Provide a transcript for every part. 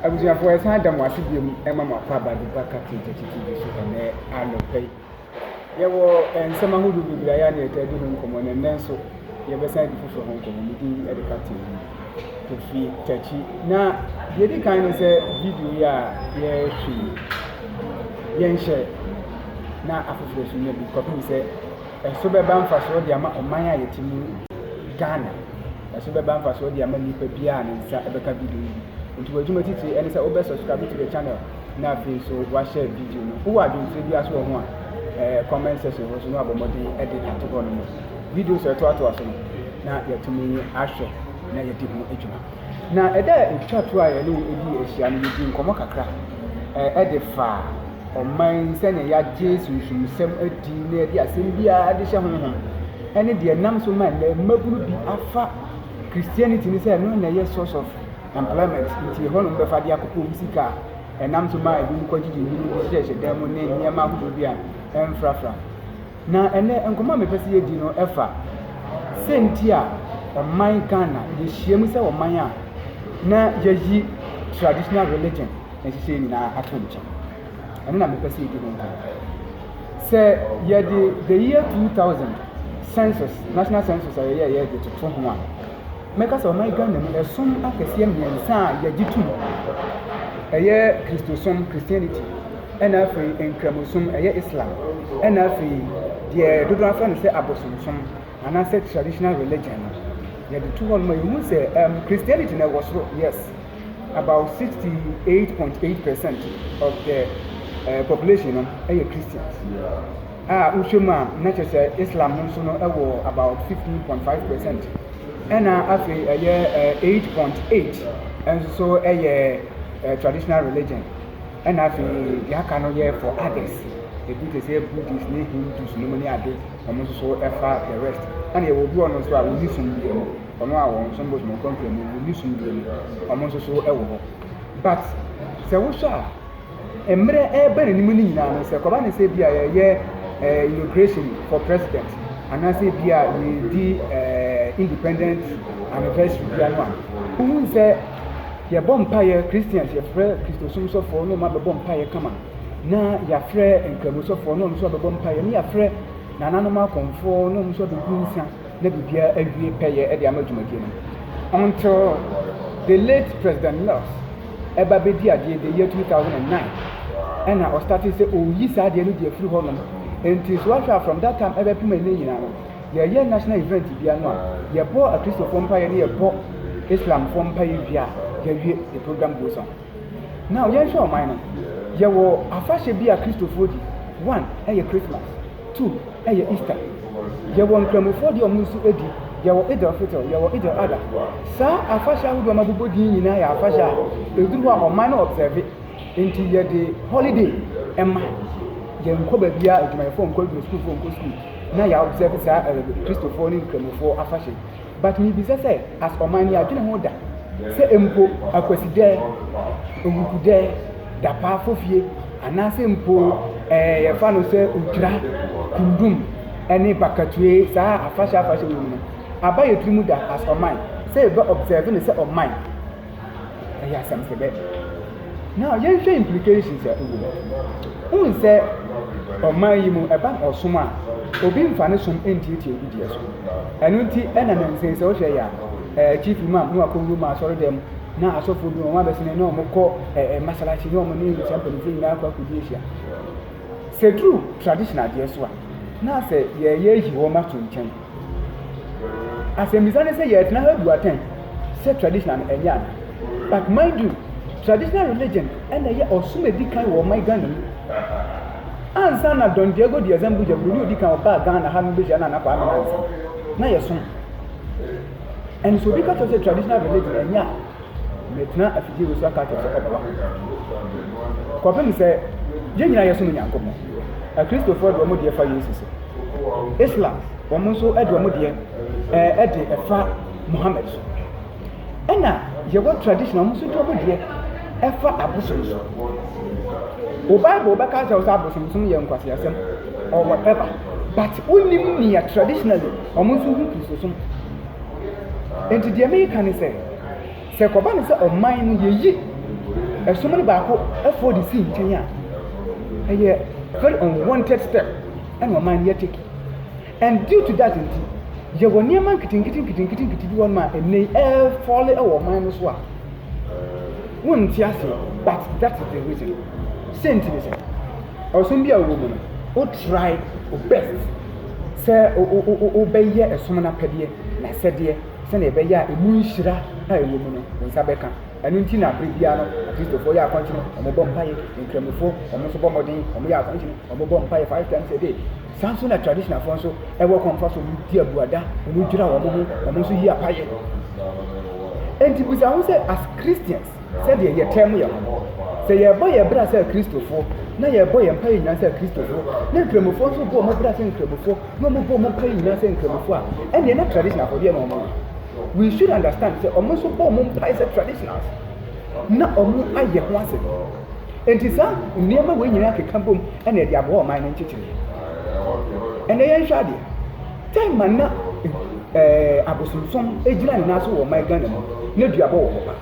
abusuafo ɛsan da mo ase bio mu ɛma mo akɔ aba duba kati tete tv so ɛnɛ anɔpɛ yi yɛwɔ nsɛm ahodoɔ bebree ayɛ ne ɛtaa di ho nkɔmmɔ na ɛnɛ nso yɛbɛsan di foforɔ ho nkɔmmɔ mu din ɛde kati mu kofi takyi na deɛ di kan ne sɛ video yi a yɛhwɛ yɛnhyɛ na afoforɔ so nya bi kɔpem sɛ Ɛso bɛba mfasoɔ de ama ɔman a yɛte mu yi, Ghana. Ɛso bɛba mfasoɔ de ama nipa biara a ne nsa bɛka video yi bi. Nti w'adwuma titire ne sɛ wobɛ subscribe to the channel na afei nso w'ashare video no. Wowɔ adwenkyerɛ biara nso wɔ ho a, ɛɛ comment section hɔ nso na wabɔ mmɔden de ato hɔ nom. Videos a ɛtoatoa so no na yɛatumi ahwɛ na yɛadi ho dwuma. Na da a etwa to a yɛne wɔn dii ahyia no, yedii nkɔmmɔ kakra de faa ɔman, sɛnea yɛagye sunsumsɛm adi na yɛde asɛm biara de hyɛ honhom, ne deɛ ɛnam so ma nnɛ mmabunu bi afa Christianity no sɛ ɛno na ɛyɛ source of employment, nti ɛhɔ na wɔbɛfa de akɔpɛ wɔn sika a ɛnam so ma ebinom kɔgyegye nnwinwii de hyehyɛhyɛ dan mu ne nneɛma ahodoɔ bi a ɛmfrafra. Na ɛnnɛ nkɔmmɔ a mepɛ sɛ yɛdi no fa sɛ nti a ɔman Ghana yɛhyiam sɛ ɔman a na yɛayi traditional religion nhyehyɛeɛ nyinaa ato nkyɛn. Ɛno na mepɛ sɛ yɛdi ho nkɔmmɔ. Sɛ yɛde the year 2000 census national census a yɛyɛ yɛ de toto ho a mɛka sɛ ɔman Ghana mu ɛsom akɛseɛ mmiɛnsa a yɛgye tom ɛyɛ Kristosom Christianity ɛna afei nkramosom, ɛyɛ Islam, ɛna afei deɛ dodoɔ afrɛ no sɛ abosomsom anaasɛ traditional religion no yɛde to hɔ nom a yɛhu sɛ um, Christianity na ɛwɔ soro yes about 68.8 percent of the uh, population no ɛyɛ Christians a wohwɛ mu a na kyerɛ sɛ Islam no nso no ɛwɔ about 15.5 percent ɛna afei ɛyɛ 8.8 ɛnso so ɛyɛ uh, traditional religion Ɛna afei deɛ aka no yɛ for others ebi te sɛ buddhist ne hindus nom ne ade wɔn nso so ɛfa the rest ɛna yɛwɔ obi ɔno nso a wɔn ni sum deɛ mu ɔno a wɔn som bosom nkonfra mu wɔn ni sum deɛ mu wɔn nso so ɛwɔ hɔ but sɛ wohwɛ a mmerɛ ɛɛba n'anim no nyinaa no sɛ kɔba ne sɛ bi a yɛyɛ ɛɛ inauguration for president anaasɛ bi a yɛdi ɛɛ independent anniversary bi ano a wohu sɛ Yɛbɔ mpaeɛ, Christians yɛfrɛ Kristosom sɔfoɔ na wɔn abɛbɔ mpaeɛ kama, na yɛafrɛ Nkramu sɔfoɔ na wɔn nso abɛbɔ mpaeɛ, na yɛafrɛ nananom akɔmfoɔ na wɔn nso abɛgu nsa na biribiara awie pɛyɛ de ama dwumadie no. Until the late President Mills ɛba bɛdi adeɛ the year 2009 ɛna ɔstate sɛ ɔreyi saa adeɛ no de afiri hɔnom. Nti so ahwɛ a from that time ɛbɛpem ɛnɛ nyinaa no, yɛyɛ national event bia no a yɛbɔ akristofoɔ mpaeɛ ne yɛbɔ islamfoɔ mpaeɛ wie a yɛwie the program goes on now yɛnhwɛ ɔman no yɛwɔ afahyɛ bi a kristofoɔ di one ɛyɛ christmas two ɛyɛ easter yɛwɔ nkramofoɔ deɛ ɔmo nso di yɛwɔ idel fitel yɛwɔ idel ada saa afahyɛ ahodoɔ ma bobɔ din nyinaa yɛ afahyɛ a ɛduru hɔ a ɔman no observe nti yɛde holiday ɛma yɛnkɔ baabiara adwumayɛfoɔ nkɔ adwuma sukuufoɔ nkɔ sukuu na yɛ observe saa ɛɛ Kristofoɔ ne Nkramofoɔ afahyɛ yi. But mebisa sɛ as ɔman yɛ adwene ho da sɛ mpo Akwasidɛ, Owukudɛ, Dapaa Fofie anaasɛ mpo ɛɛ yɛfa no sɛ Otwira, Kundum ɛne Bakatue saa afahyɛ afahyɛ wɔ mu no aba yɛ tiri mu da as ɔman sɛ yɛbɛ observe no sɛ ɔman. Ɛyɛ asɛmfodɛ. Now yɛnhwɛ implications a ɛwɔ mu. Wohu sɛ ɔman yi mu ɛba ɔsom a obi mfa ne som ntiatia obi deɛ so. Ɛno nti ɛna ne nsɛn sɛ wohwɛ yɛ a chief imam na wakɔwura mu asɔre dɛm na asɔfoɔ bi wɔn abɛsene na wɔn kɔ ɛɛ masalakyi na wɔn ne saa mpanimfoɔ nyinaa akɔ akɔdi ahyia. Sɛ duru tradition adeɛ so a na sɛ yɛyɛ yi wɔn ato nkyɛn. Asɛmbisa ne sɛ yɛtsena ha bu atsɛn sɛ traditional no ɛnyɛ ana? But mind you, traditional religion na ɛyɛ ɔsom edi kan wɔ ɔman Ghana mu. Ansa na Don Diego de Azambuja, Buroni odi kan ɔbaa Ghana ha no behyia Nana Kwame Nantse, na yɛsom. And so obi ka kyerɛ sɛ traditional religion ɛnyɛ a, Metena afidie wei so aka akyerɛ sɛ ɔbɛba. Kɔpem sɛ yɛn nyinaa yɛsom Nyankopɔn. Akristofoɔ de wɔn deɛ fa Yesu so. Islam, wɔn nso de wɔn deɛ ɛɛ de ɛfa Muhammad so. Ɛna yɛwɔ tradition, wɔn nso de wɔn deɛ ɛfa abosom so. O Bible bɛka akyerɛ sɛ abosomsom yɛ nkwaseasɛm or whatever, but wonim nea traditionally wɔn nso hu Kristosom. Enti deɛ meka ne sɛ. Sɛ ɛkɔba no sɛ ɔman no yeyi ɛsom no baako ɛfɔ de si nkyɛn a, ɛyɛ very unwanted step ɛna ɔman no yɛ take. And due to that nti, yɛwɔ nneɛma nketenkete nketenkete nkete bi wɔnom a ɛnɛ yi ɛɛfɔle ɛwɔ ɔman no so a wonte aseɛ but that is the reason. Sɛ nti ne sɛ, ɔsom bi a wowɔ mu no, wo try wo best sɛ wobɛyɛ ɛsom no apɛdeɛ na sɛdeɛ. sɛnea ɛbɛyɛ a emu nhyira a ɛwɔ mu no, wo nsa bɛka. Ɛno nti na bere biara no, Akristofoɔ yɛ akɔnkye no, wɔbɔ mpaeɛ. Nkramofoɔ, wɔn nso bɔ mmɔden, wɔyɛ akɔnkye no, wɔbɔ mpaeɛ five times a day. Saa nso na traditionalfoɔ nso ɛwɔ kwan fa so, wɔdi abuada, wɔdwira wɔn ho, wɔn nso yi apaeɛ. Enti bisa ho sɛ, as Christians, sɛdeɛ yɛtaa mu yɛ ho. Sɛ yɛrebɔ yɛn bra sɛ Kristofoɔ, na yɛrebɔ yɛn mpaeɛ nyinaa sɛ Kristofoɔ, na Nkramofoɔ nso bɔ wɔn bra sɛ Nkramofoɔ, na wɔbɔ wɔn mpaeɛ nyinaa sɛ Nkramofoɔ a, ɛnneɛ na traditional afɔ deɛ na wɔn yɛ. We should understand sɛ wɔn nso bɔ wɔn mpaeɛ sɛ traditionals, na wɔn ayɛ ho ase. Enti saa nneɛma wei nyinaa keka bom ɛna ɛde aboa ɔman no nkyekyere. Ɛnna yɛnhwɛ adeɛ. Tema na eh, abosomsom gyina ne nan so wɔ ɔman Ghana mu na duabɔ wɔ hɔ pa.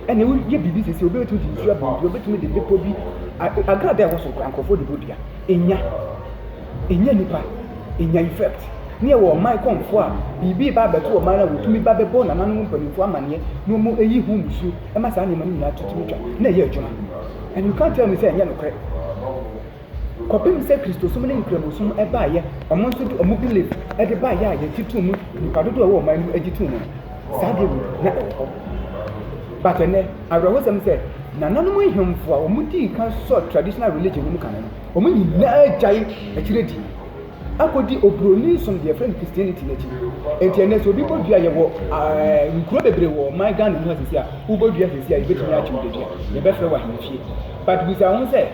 Ɛne woyɛ biribi sisi obi betumi de nsu abɔ dua, obetumi de bepɔ bi agrada ɛwɔ so nkora nkurɔfoɔ de bɔ dua. Enya, enya nipa, enya effect. Ne yɛwɔ ɔman kɔmfoɔ a biribi ba abɛto ɔman a wɔtumi ba bɛbɔ nananom mpanimfoɔ amanneɛ na wɔn ayi ho nsuo ɛma saa nneɛma no nyinaa tutumi twa na ɛyɛ adwuma. And you can't tell me sɛ ɛnyɛ nokorɛ. Kɔpem sɛ Kristosom ne Nkramosom baeɛ, ɔmo nso de ɔmo belief de baeɛ a yɛgye too mu, nnipa dodoɔ a ɛwɔ ɔman no mu gye too mu no, saa deɛ wei na ɛwɔ hɔ. But ɛnnɛ, awerɛhosɛm sɛ, nananom nhemfo a ɔmo dii kan sɔɔ traditional religion no mu kane no, ɔmo nyinaa gyae akyire di, akɔdi obroni som deɛ yɛfrɛ no Christianity no akyi. Enti ɛnnɛ sɛ obi bɔ dua, yɛwɔ eh, nkuro bebree wɔ ɔman Ghana mu ha sisi a, wobɔ dua sisi a, yɛbɛtumi akye wo dadua, yɛbɛfrɛ wo ahemfie. But bisa wo ho sɛ,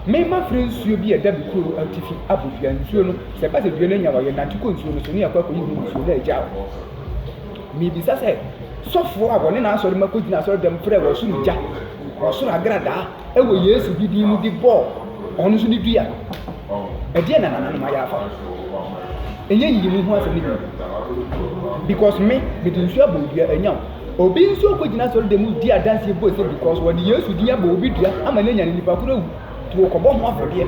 Me mafrɛ nsuo bi a ɛda me kuro no atifi abɔ dua. Nsuo no, sɛ ɛba sɛ dua no anya wɔ a, yɛnante kɔ nsuo no so ne yɛakɔ akɔyi ho nsuo na agya wɔ hɔ. Mebisa sɛ, Sɔfoɔ a wɔne n'asɔremma kɔgyina asɔredam frɛɛ wɔ soro gya, wɔ soro agradaa wɔ Yesu bi din mu de bɔɔ ɔno nso ne dua? Ɛdeɛn na nananom ayɛ afa ho? Ɛnyɛ nyiyimu ho asɛm no bio. Because me, mede nsuo abɔ dua, ɛnyaw. Obi nso kɔgyina asɔredan mu di adanseɛ bue sɛ because wɔde Yesu din abɔ obi dua ama no anya no nipa koro awu nti wɔkɔbɔ ho afɔdeɛ.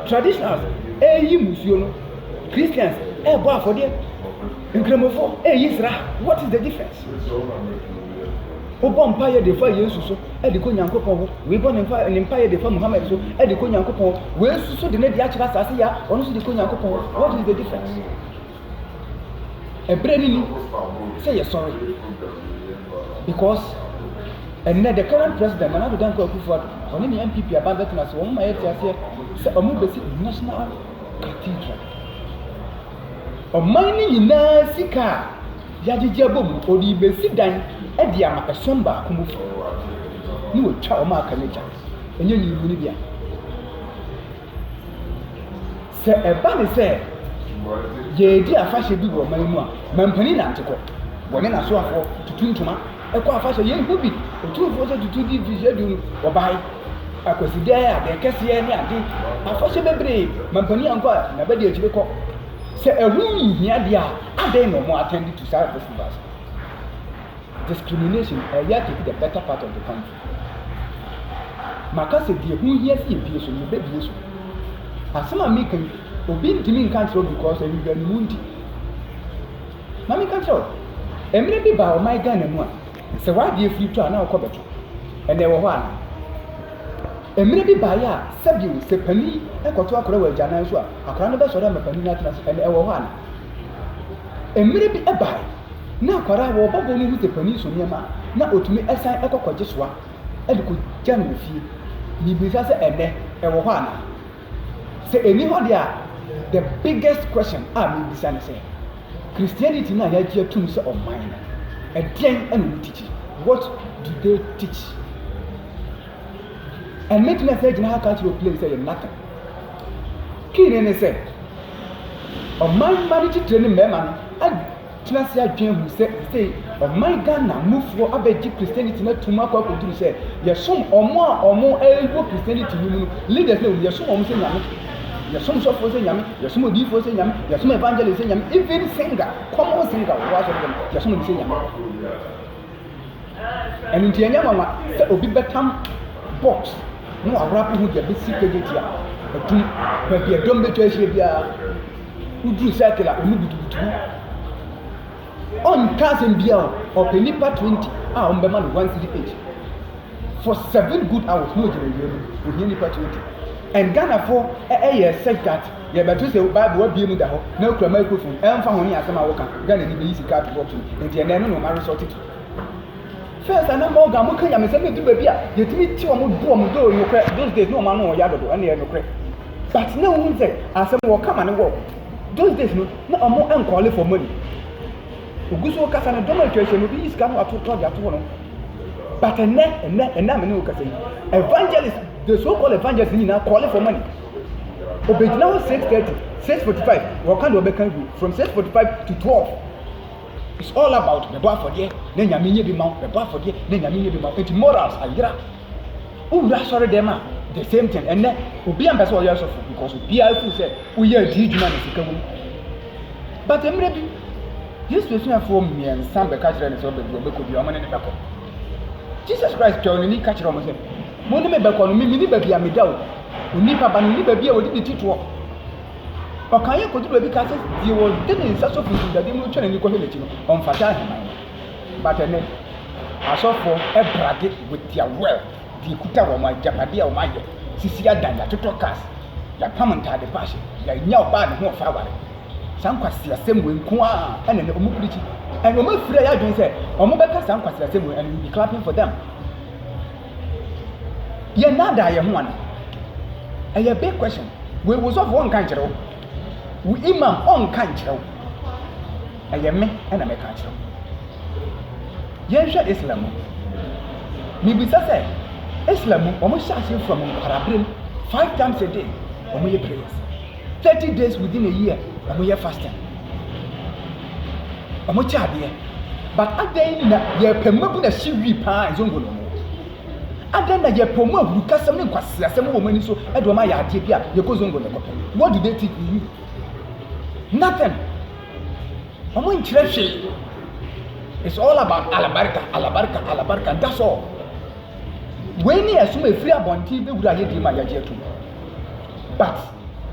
Traditionals ɛreyi musuo no, Christians ɛrebɔ afɔdeɛ, Nkramofoɔ ɛreyi sra, what is the difference? Wobɔ mpaeɛ de fa Yesu so ɛde kɔ Nyankopɔn ho, wei bɔ ne mpaeɛ de fa Muhammad so ɛde kɔ Nyankopɔn ho, wei nso so de ne de akyerɛ asase yɛ a ɔno nso de kɔ Nyankopɔn ho, what is the difference? ɛberɛ no ni sɛ yɛsɔre because ɛnɛ the current president Nana Addo Dankwa Akufo-Addo ɔne ne NPP aban bɛtena ase wɔn ma yɛte aseɛ sɛ wɔn bɛsi national cathedral ɔman no nyinaa sika a yɛagyegye abɔ mu ɔde bɛsi dan de ama ɛsom baako mu fo ne wɔtwa wɔn aka no agya ɛnyɛ nyinimuni bia Sɛ ɛba ne sɛ yɛredi afahyɛ bi wɔ ɔman mu a, mampanin nante kɔ. Wɔne n'asoafoɔ tutu ntoma kɔ afahyɛ. Yɛhu bi, otumfoɔ sɛ tutu di mfirihyia du no, wɔbae. Akwasidɛ, adeɛ kɛseɛ ne ade. Afahyɛ bebree, mampanin ankɔ a, naba di akyire kɔ. Sɛ ɛho nhia deɛ a, adɛn na wɔn attend to saa festivals? Discrimination, ɛyɛ take the better part of the country. Maka sɛ deɛ ɛho hia sɛ yɛbue so no, yɛbɛbue so. Asɛm a meka yi, obi ntumi nka nkyerɛ wo because nhwehwɛanimu nti. Ma meka nkyerɛ wo, mmerɛ bi baa ɔman Ghana mu a, sɛ w'adeɛ firi tɔ a na wokɔ bɛtɔ. Ɛnna ɛwɔ hɔ anaa? Mmerɛ bi baeɛ a sɛbio sɛ panin kɔto akora wɔ agyanan so a, akora no bɛsɔre ama panin no atena ase. Ɛnna ɛwɔ hɔ anaa? Mmere bi bae, na akwadaa a wɔba bɔ no hu sɛ panin so nneɛma a, na otumi san kɔ kɔgye soa de kogya no wɔ fie. Mibisa sɛ ɛnnɛ ɛwɔ hɔ anaa? Sɛ enni hɔ de a, the biggest question a mibisa ne sɛ, Christianity no a yɛagye atum sɛ ɔman no, ɛdeɛn na wɔtikyi? What do they teach? And mɛtumi asɛ gyina ha ka akyerɛ oplane sɛ yɛ nothing. Key ne ne sɛ, ɔman mma ne titire ne mmarima no atena ase adwene hu sɛ sɛ ɔman Ghana mufoɔ abɛgye Christianity no atum akɔ akɔduru sɛ yɛsom ɔmo a ɔmo ɛwɔ Christianity no mu no leaders no yɛsom ɔmo sɛ nyame yɛsom sɔfoɔ sɛ nyame yɛsom odiifoɔ sɛ nyame yɛsom evangelist sɛ nyame even singer common singer wɔ asɔre dɛm yɛsom no sɛ nyame Ɛno nti ɛnyɛ nwanwa sɛ obi bɛtam box na waworo akɔ ho de abɛsi pageti a atum baabi a dɔm bɛtwa ahyia biara. Woduru circle a wɔn butubutu ho. Ɔnka asɛm biara o, ɔpɛ nnipa 20 a wɔbɛma no one cedi each. For seven good hours na ogyina awia mu, ohia nnipa 20. And Ghanafoɔ ɛyɛ such that Yɛbɛto sɛ Bible abue mu da hɔ na wokura microphone, ɛmfa ho ne asɛm a woka, Ghana ni bɛyi sika ato box mu, enti ɛnnɛ ɛno na wɔn aresɔte to. First ana Morgan mo ka nyamesɛm edu baabi a yɛtumi te wɔn bo wɔn do nokorɛ those days na wɔn ano ɔya dodo ɛna ɛyɛ nokorɛ but na wohu sɛ asɛm wɔ kama ne wɔ those days no na wɔn nkɔle for money ogu so kasa no dɔm atwa ahyia no obi yi sika no ato tɔ de ato hɔ no but ɛnɛ ɛnɛ ɛnɛ amene wo kasa yi evangelist the so called evangelist nyinaa kɔle for money obegyina hɔ six thirty six forty five wɔka deɛ ɔbɛka gu from six forty five to twelve it's all about bɛbɔ afɔdeɛ na nyame nyɛ bi ma bɛbɔ afɔdeɛ na nyame nyɛ bi ma eti morals ayera wowura asɔre dɛm a the same thing ɛnɛ obi ampɛ sɛ ɔyɛ asɔfo because obiara firi sɛ woyɛ adi adwuma na sika wom but mmerɛ bi yesu asuafoɔ mmiɛnsa bɛka kyerɛ ne sɛ ɔbɛbi ɔbɛkɔ bi ɔmo ne ne bɛkɔ jesus christ twɛw n'ani ka kyerɛ ɔmo sɛ mo ne me bɛkɔ no me mene baabi a meda o Onipa ba no, ne baabi a wɔde ne ti toɔ. Ɔkan yɛ kɔdu baabi ka sɛ, deɛ ɔde ne nsa sɔ funtum dadeɛ mu no twa n'ani kɔhwɛ n'akyi no, ɔmfata ahemman no. But ɛnɛ, asɔfoɔ brage with their wealth, deɛ ɛkuta wɔn agyapadeɛ a wɔayɛ, sisi adan, yɛatotɔ cars, yɛapam ntaade pa ahyɛ, yɛanya ɔbaa ne ho ɔfa aware. Saa nkwaseasɛm wei nko ara ɛna ɛnɛ wɔn pirikyi. And wɔn afiri a yɛadwene sɛ wɔbɛka saa nkwaseasɛm wei and we be clapping for them. Yɛ nnaadaa yɛn ho ana? Ɛyɛ big question. Wei wo sɔfo ɔnka nkyerɛ wo. Wo imam ɔnka nkyerɛ wo. Ɛyɛ me ɛna mɛka akyerɛ wo. Yɛnhwɛ Islam mu. Mibisa sɛ Islam mu wɔn hyɛ ase from nkwarabere mu five times a day wɔn yɛ prayers. Thirty days within a year wɔn yɛ fasting wɔn kyɛ adeɛ but adan na yɛpɛ mmabu na si wi paa nzongo no mu adan na yɛpɛ wɔn ahurukasɛm ne nkwasiasɛm wɔ wɔn ani so ɛde wɔn ayɛ adeɛ bi a yɛkɔ zongo na ɛkɔpɛ what do they think we you nothing. Ɔmo nkyerɛ hwee. It's all about alabarika, alabarika, alabarika, that's all. Wei ne ɛsom efiri abɔnten bɛwura yɛ deɛ ma yɛagye atum. But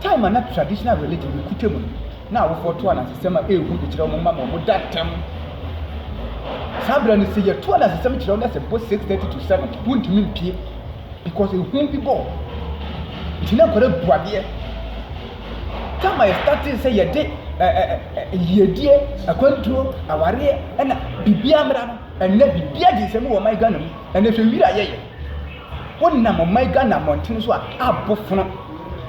time a na traditional religion no kuta mu no, na awofoɔ to anansesɛm a ɛyɛ hu de kyerɛ wɔn mma ma wɔn da ntɛm. Saa berɛ no sɛ yɛto anansesɛm kyerɛ wɔn na sɛ bɔ 6:30 to 7 wontumi mpie because ehu bi bɔ nti na nkwadaa bu adeɛ. Kama yɛstartee sɛ yɛde ɛ ɛ ɛ yiedie, akwantuo, awareɛ ɛna biribiara mmra no, ɛnɛ biribiara gye nsɛm wɔ ɔman Ghana mu. Ɛnɛ hwɛ wira yɛyɛ. Wonam ɔman Ghana mmɔntene so a, abɔ fono.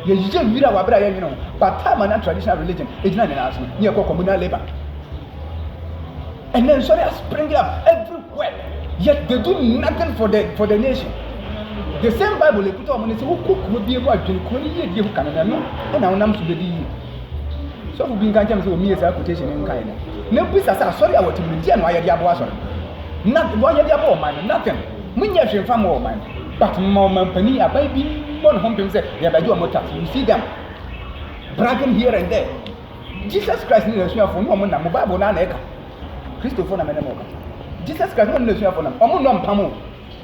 Yɛyɛ wira wɔ abere a yɛnwene ho. But time and traditional religion ɛgyina nyinaa so no, ne yɛkɔ communal labour. Ɛnɛ nsɔre a spring up everywhere yet they do nothing for the for the nation. The same bible ekuta wɔn ne sɛ wokɔ kuro bi mu adwene kuro no yie die ho ka no na ɛno ɛna wonam so bɛdi yie. Sɔfo bi nka nkyɛn sɛ wɔmie saa quotation no nkae no. Na bisa sɛ asɔre a wɔte mu no deɛ na wɔayɛ de aboa asɔre. Na wɔayɛ de aboa ɔman no nothing. Monyɛ hwee mfa mmoa ɔman no. But ma ɔmampanin aban bi mmɔ ne ho mpem sɛ yɛbɛgye wɔn tax. You see them bragging here and there. Jesus Christ ne n'asuafo no ɔmo nam mo Bible no ara na ɛka. Kristofo na me ne mo ka. Jesus Christ ne ɔne n'asuafo nam. Ɔmo nnɔ mpam o.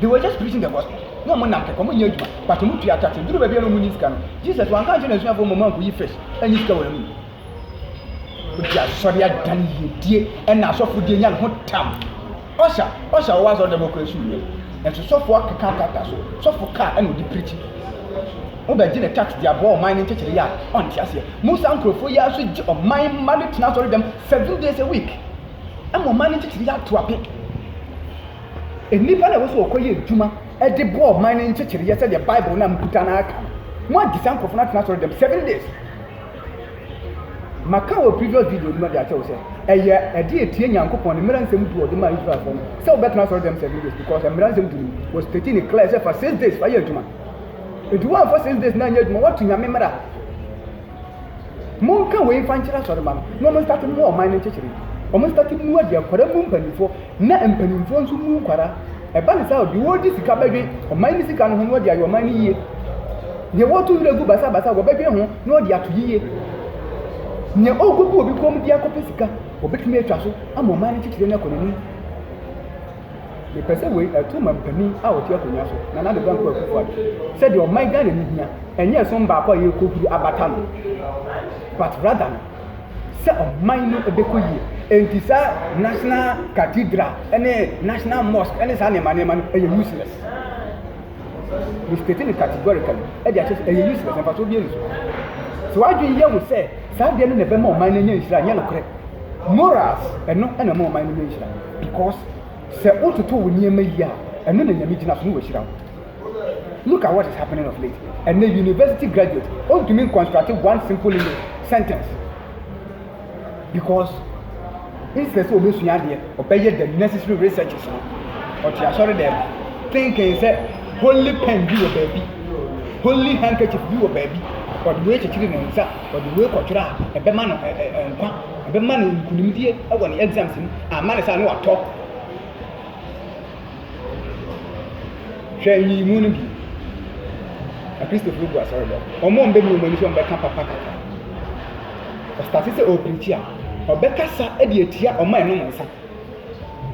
They were just preaching the gospel. Na ɔmo nam kɛkɛ, ɔmo nyɛ adwuma, but ɔmo tua tax. Duru baabi a na ɔmo nni sika no, Jesus wanka nkyerɛ n'asuafo ɔmo mma nkoyi fish ɛnyi sika wɔ n'anom. Odi asɔre adan yiedie ɛna asɔfodie nya ne ho tam. Usher, usher a ɔwɔ asɔrdan mu kura su wiɛ, nanso sɔfo akeka krataa so, sɔfo kaa ɛna ɔde pirikyi. Wo bɛ gye ne tax de aboa ɔman no nkyekyere yɛ a ɔnte aseɛ. Mo saa nkurɔfoɔ yi ara nso gye ɔman mma no tena asɔredam seven days a week ɛma ɔman no nkyekyere yɛ ato ape. Nnipa no a ɛwɔ sɛ ɔkɔ yɛ adwuma de boa ɔman no nkyekyere yɛ sɛdeɛ bible no a mo kuta no ara ka no, mo agye saa nkurɔfoɔ no atena asɔredam seven days. Maka wɔ previous video no mu de akyerɛ wo sɛ ɛyɛ ɛde etie Nyankopɔn ne mmara nsɛm du ɔde maa Israelfoɔ no sɛ wobɛtena asɔre dɛm seven days because mmara nsɛm du no mu was stating it clear sɛ fa six days fa yɛ adwuma nti woamfa six days na anyɛ adwuma woato Nyame mmara monka wei mfa nkyerɛ asɔre ma no na ɔmo nstate mu ɔman no nkyekyere ɔmo nstate mu adi akwara mu mpanimfoɔ na mpanimfoɔ nso mu nkwara Ɛba no saa o, deɛ wɔregye sika bɛdwen ɔman no sika no ho na wɔde ayɛ ɔman no yie. Deɛ wɔreto werɛ gu basabasa wɔbɛdwen ho na wɔde ato yie. Nea ɔrekɔgu obi kɔn mu de akɔpɛ sika, wɔbɛtumi atwa so ama ɔman no kyekyere no akɔ n'anim. Mepɛ sɛ wei ɛto mampanin a ɔte akonnwa so, Nana Addo Dankwa Akufo-Addo, sɛdeɛ ɔman Ghana no hia, ɛnyɛ ɛsom baako a yɛrekɔhuri abata no, but rather no, sɛ ɔman no bɛkɔ yie. Enti saa national cathedral ne national mosque ne saa nneɛma nneɛma no ɛyɛ useless. Me state no categorically ɛde akyɛ sɛ ɛyɛ useless na mfasoɔ bi ani so. Sɛ w'adwene yɛ ho sɛ saa deɛ no na ɛbɛma ɔman no anya nhyira nyɛ nokorɛ. Morals ɛno na ɛma ɔman no nya nhyira because sɛ wototo wo nneɛma yie a ɛno na Nyame gyina so na wahyira wo. look at what is happening of late ɛnna university graduate ontumi construct one simple english sentence because instead sɛ ɔbɛsua adeɛ ɔbɛyɛ the necessary researches no ɔte asɔre dɛm thinking sɛ holy pen bi wɔ baabi holy handkerchief bi wɔ baabi ɔde wei kyekyere ne nsa ɔde wei kɔtwerɛ a ɛbɛma no nkwa ɛbɛma no nkunimdie wɔ ne exams mu ama ne saa ne watɔ Hwɛ nyiyimu no bi. Akristofo gu asɔreda mu. Wɔn a wɔbɛmi wɔn ani sɛ wɔbɛka papa kasa. Ɔstate sɛ ɔrepirikyi a, ɔbɛkasa de atia wɔn a ɛnom nsa.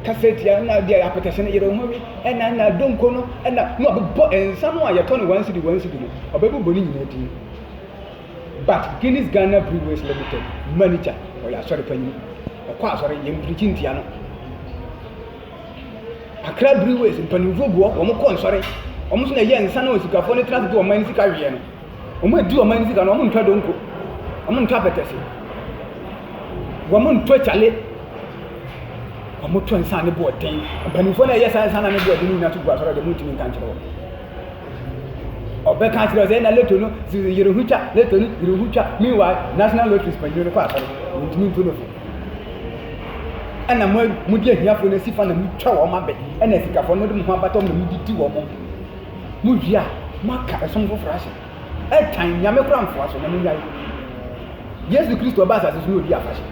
Kasa atia na deɛ apɛtɛhyɛ no yere ho awi ɛna ɛna donko no ɛna na ɔbɛbɔ nsa no a yɛtɔ no wɔn si di wɔn si di no ɔbɛbobɔ ne nyinaa din. But Guinness Ghana Breweries Limited manager ɔyɛ asɔre panyin. Ɔkɔ asɔre yɛn pirikyi ntia no. Accra Breweries mpanimfoɔ gu hɔ, wɔn kɔ nsɔre, wɔn nso na ɛyɛ nsa na osikafoɔ no tena ase de wɔn ani sika weɛ no. Wɔn adi wɔn ani sika no, wɔn ntwa donko, wɔn ntɔ apɛtɛse, wɔn ntɔ kyale, wɔn tɔ nsa ne boɔden. Mpanimfoɔ na ɛyɛ saa nsa na ne boɔden no nyinaa to gu asɔre a deɛ wɔntumi nka nkyerɛ wɔn. Ɔbɛka akyerɛ sɛ na leto no yere ho twa, leto no yere ho twa. Meanwhile, national lotteries panyin no kɔ asɔre, wɔntumi ntu no fo. ɛna mo mo de ahiafoɔ no asi fa na mo twa wɔn abɛ ɛna asikafoɔ no mo de mo ho abata wɔn na mo didi wɔn mo mo wie a mo aka ɛsom foforɔ ahyɛ ɛtan nyame kora nfoa so na mo nyae yesu kristo ɔba asase so na odi afahyɛ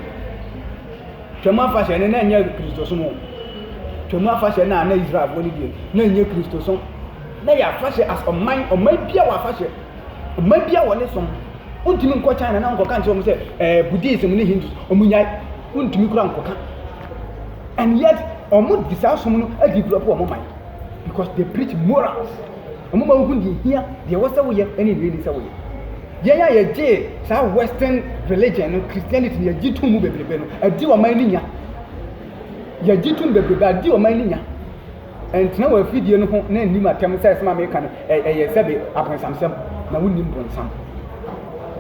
twam afahyɛ no na ɛnyɛ kristo som o twam afahyɛ no a na israelfoɔ no deɛ na ɛnyɛ kristo som na yɛ afahyɛ as ɔman ɔman bia wɔ afahyɛ ɔman bia wɔ ne som Wontumi nkɔ China na nkɔka nkyerɛ wɔn sɛ ɛɛ eh, Buddhism ne Hindus wɔn nyae. Wontumi kura nkɔka. And yet wɔn de saa som no adi gulɔ po wɔn man because they preach morals. Wɔn ma wohu deɛ hia deɛ ɛwɔ sɛ woyɛ ne deɛ ɛni sɛ woyɛ. Yɛn a yɛgye saa western religion no Christianity no yɛgye tom mu bebrebe no adi wɔn man no nya. Yɛgye tom bebrebe adi wɔn man no nya. Ɛntena wɔ afidie no ho na ɛnni m'atɛm sɛ asɛm a meka no ɛyɛ sɛbe abonsamsɛm, na wonnim bonsam.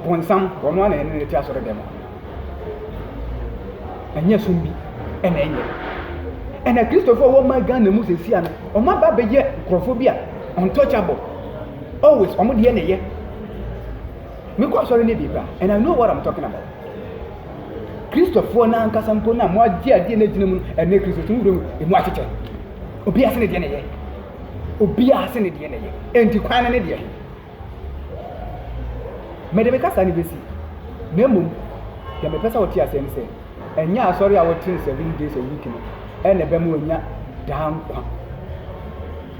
Bonsam, ɔno ara na ɛne no te asɔredɛm hɔ. Ɛnyɛ som bi ɛna ɛnyɛ. Ɛna Kristofoɔ wɔ ma Ghana mu sɛsia no, wɔn aba bɛyɛ nkurɔfoɔ bi a untouchable. Always, wɔn deɛ na ɛyɛ. Me kɔ asɔre no bi kora and I know what I'm talking about. Kristofoɔ no ankasa mpo no a mo agye adeɛ no agyina mu no ɛnɛ Kristofoɔ no wura emu akyekyɛ. Obi ase ne deɛ na ɛyɛ. Obi ase ne deɛ na ɛyɛ. Enti kwan no ne deɛ. Mede me kasa no bɛsi. Na mmom deɛ mepɛ sɛ wote aseɛ ne sɛ ɛnyɛ asɔre a wote no seven days a week no ɛna ɛbɛma onya daa nkwa.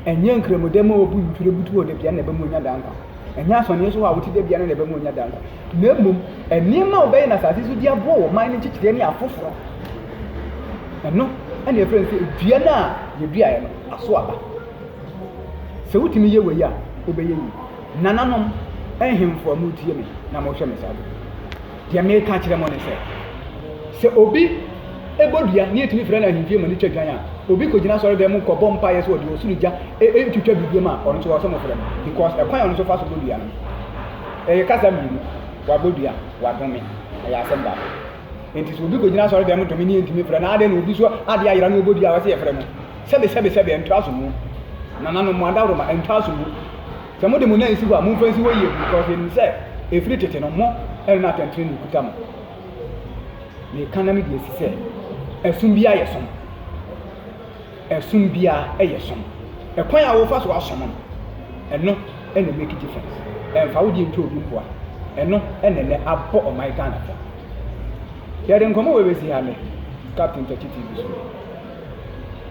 Ɛnyɛ nkramoda mu a obu ntwerɛ butu hɔ da bia na ɛbɛma onya daa nkwa. Ɛnyɛ asɔneɛ so hɔ a wote da biara no na ɛbɛma woanya daa nkwa, na mmom nneɛma a wobɛyɛ no asase so de aboa wo man no nkyekyerɛ ne afoforɔ. Ɛno ɛna ɛfrɛ no sɛ dua no a yɛduaeɛ no aso aba. Sɛ wotumi yɛ wei a, wobɛyɛ yie. Nananom, nhemfo a motie me na mohwɛ me saa de. Deɛ meka akyerɛ mo ne sɛ, sɛ obi bɔ dua ne yɛtumi frɛ no ahemfie ma no twa dwan a, obi kɔgyina asɔredan mu kɔbɔ mpaeɛ sɛ ɔde ɔsoro gya ntwitwa biribi ma ɔno nso wɔ sɛ mofrɛ no because ɛkwan a ɔno nso fa so bɔ dua no ɛyɛ kasa mmienu, wabɔ dua, wadome, ɛyɛ asɛm baako. Nti sɛ obi kɔgyina asɔredan mu dome ne yɛntumi frɛ no, adɛn na obi so adeɛ ayera ne ɔbɔ dua a ɔsɛ yɛfrɛ no? Sɛbesɛbesɛbe, ɛntra so mu. Nananom, mo adaworoma, ɛntra so mu. Sɛ mode mo nan si hɔ a, momfa nsi hɔ yie, because yɛnim sɛ ɛfiri tete no, mo na atɛntenenee kuta mo. Meka na mede asi sɛ, ɛsom biara yɛ som. Ɛsom biara yɛ som. Ɛkwan a wofa so asom no, ɛno na ɛmake difference. Ɛmfa wo deɛ ntwa obi mpoa. Ɛno na ɛnɛ abɔ ɔman Ghana fam. Yɛde nkɔmmɔ wei bɛsi ha nnɛ, Captain Takyi TV so.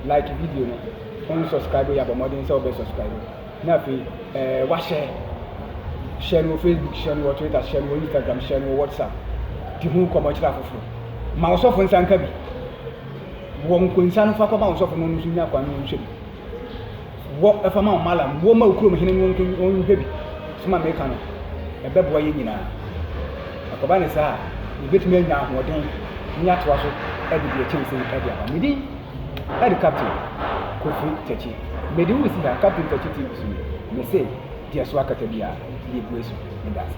Like video no, wonsubscribe yɛ a, bɔ mmɔden sɛ wobɛsubscribe. Na afei ɛɛ wahyɛ. Hyɛ no wɔ Facebook, hyɛ no wɔ Twitter, hyɛ no wɔ Instagram, hyɛ no wɔ WhatsApp. Di ho nkɔmmɔ kyerɛ afoforo. Ma ɔsɔfo nsa nka bi. Wɔ nkonsa no fa kɔma ɔsɔfo no nso nya kwan no nhwɛ bi. Wɔ ɛfa ma ɔmalam, wɔ ma okurom hene no nhwɛ bi. Soma meka no, ɛbɛboa yɛn nyinaa. Akɔba ne saa a, yɛbɛtumi anya ahoɔden ne atoa so de deɛ ɛkyɛn sei de aba. Medin. Ɛde Captain Kofi Takyi, Medi wo si ha Captain Takyi TV so yi, mese deɛ so akata biara, yɛbue so. Medase.